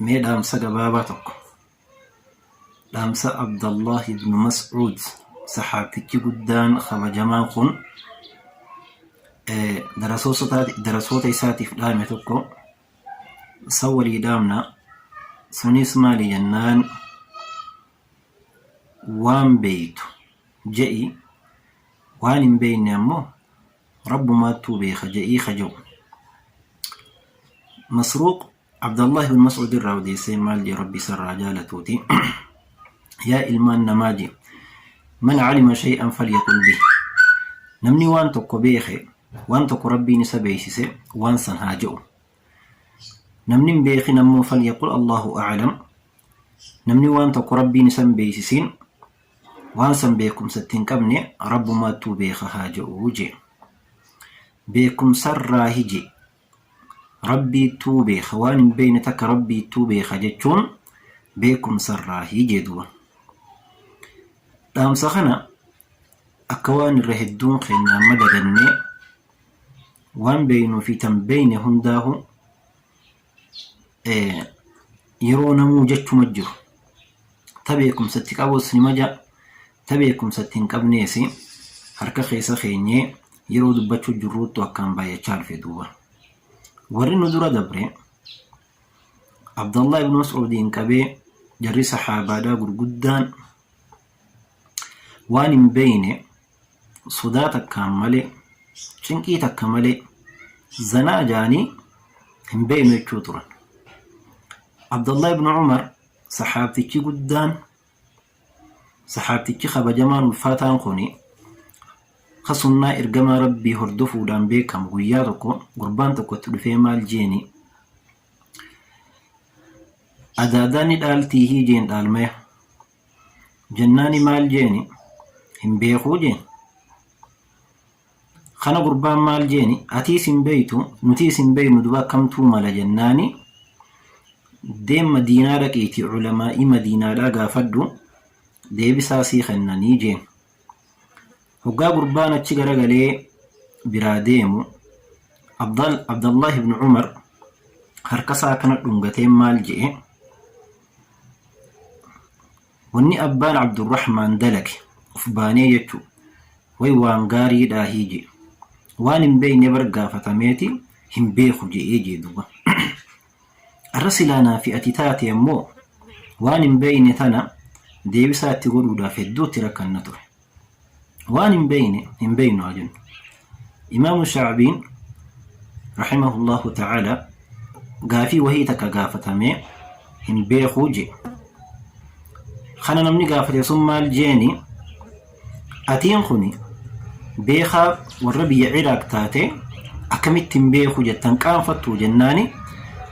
Mee dhaamsa gabaabaa tokko. Dhaamsa Abdallaah ibn Mas'uud sahaabtichi guddaan kabajamaan kun eh, darasoosota- darasoota isaatiif dhaame tokko san walii dhaamna. Sunis maali jennaan waan beeytu je'i waan hin beeyne ammoo rabbumaattuu beeka je'ii kaja'u. Masruuq Abdallaah ibn Mas'uud irraa odeessee maal jee Rabbi isarraa jaalatuuti yaa ilmaan namaa jee man calima shay'an falyaqul bih namni waan tokko beeke waan tokko Rabbiin isa beeksise waan san haa je'u namni hin beekin ammoo falyaqul Allahu a'lam namni waan tokko Rabbiin isa hin beeksisiin waan san beekumsa itti hin qabne rabbumaattuu beeka haa je'u jee beekumsarraa hije Rabbiittuu beeka waan hin beekne takka Rabbiittuu beeka jechuun beekumsarraahi jee duba. Dhaamsa kana akka waan irra hedduun keenya amma dagannee waan beeknuu fi tan beekne hundaahu yeroo namuu jechuma jiru. Ta beekumsa itti qabus nima ja, ta beekumsa itti hin qabnees harka keessa keenyee yeroo dubbachuu jirruuttu akkaan baay'achaa dhufe duuba. Warri nu dura dabre Abdallah ibn Mas'uudiin qabee jarri sahaabaadhaa gurguddaan waan hin beeyne sodaa takkaan malee cinqii takka malee zanaa jaanii hin beeynu jechuu turan. Abdallah ibn Umar Sahaabtichi guddaan, sahaabtichi kabajamaan ulfaataan kuni, ka sunnaa ergamaa Rabbii hordofuudhaan beekamu guyyaa tokko gurbaan tokko itti dhufee maal jeeni? Adaadaa ni dhaaltii hii jeen dhaalmaya. Jennaani maal jeeni? Hin beekuu jeen. Kana gurbaan maal jeeni atiis hin beeytu nutiis hin beeynu duba akkamtuu mala jennaani deem madiinaa dhaqiiti culamaa'ii madiinaadhaa gaafadhu deebisaa sii kennanii jeen hoggaa gurbaan achi garagalee biraa deemu Abdal Abdallaah ibn Umar harkasaa akkana dhungateen maal je'e Wanni abbaan Abdurrahmaan dalage uf baanee jechuu way waan gaarii dhaahii jee waan hin beeyne bar gaafatameeti hin beeku je'ee jee duuba arra silaa naa fi ati taate ammoo waan hin beeyne tana deebisaa itti godhuudhaaf hedduu itti rakkanna ture. waan hin beeyne hin beeynu haa jennu imaamu shaabiin rahimahullahu ta'ala gaafii wahii takka gaafatamee hin beekuu jee kana namni gaafate sun maal jeeni atiin kuni beekaa Warra biyya Iraaq taate akkamitti hin beeku jettan qaanfattu jennaani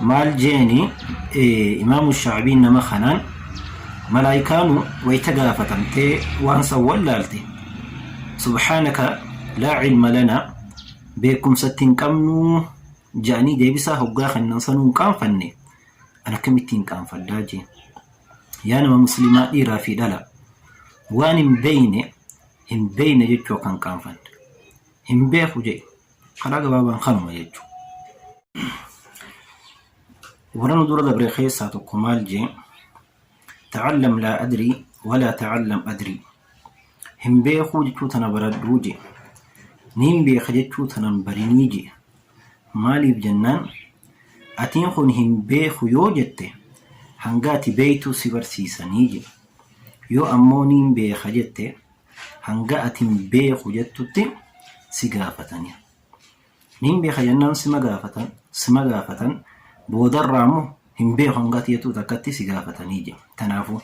maal jeeni imaamu shaabiin nama kanaan malaayikaanu wayta gaafatamtee waan san wallaalte subhaanaka laa cilma lana beekumsatti hin qabnuu ja'anii deebisaa hoggaa kennan sanuu hin qaanfanne an akkamitti hin qaanfadhaa jeen yaa nama muslimaa dhiiraa fi dhala waan hin beeyne hin beekne jechuu akka hin qaanfanne. Hin beeku jedhi. Karaa gabaabaan kanuma jechuudha. Warra nu dura dabre keessaa tokko maal jee? Ta'allam laa adrii walaa ta'allam adrii. Hin beekuu jechuu tana baradhuu jee. Niin beeka jechuu tanan barinii jee. Maaliif jennaan atiin kun hin beeku yoo jette hanga ati beektu si barsiisanii jee. Yoo ammoo niin beeka jette hanga ati hin beeku jettutti si gaafatani. Niin beeka jennaan sima gaafatan, sima gaafatan boodarraa ammoo hin beeku hanga ati jettu takkatti si gaafatanii jedhe. Tanaafuu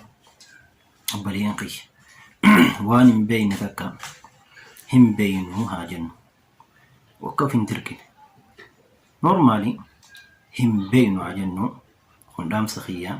obboleeyyan kiyya waan hin beeyne takka hin beeynu haa jennu. Akka of hin dirqine. Normaalii hin beeynu haa jennu kun dhaamsa kiyyaa.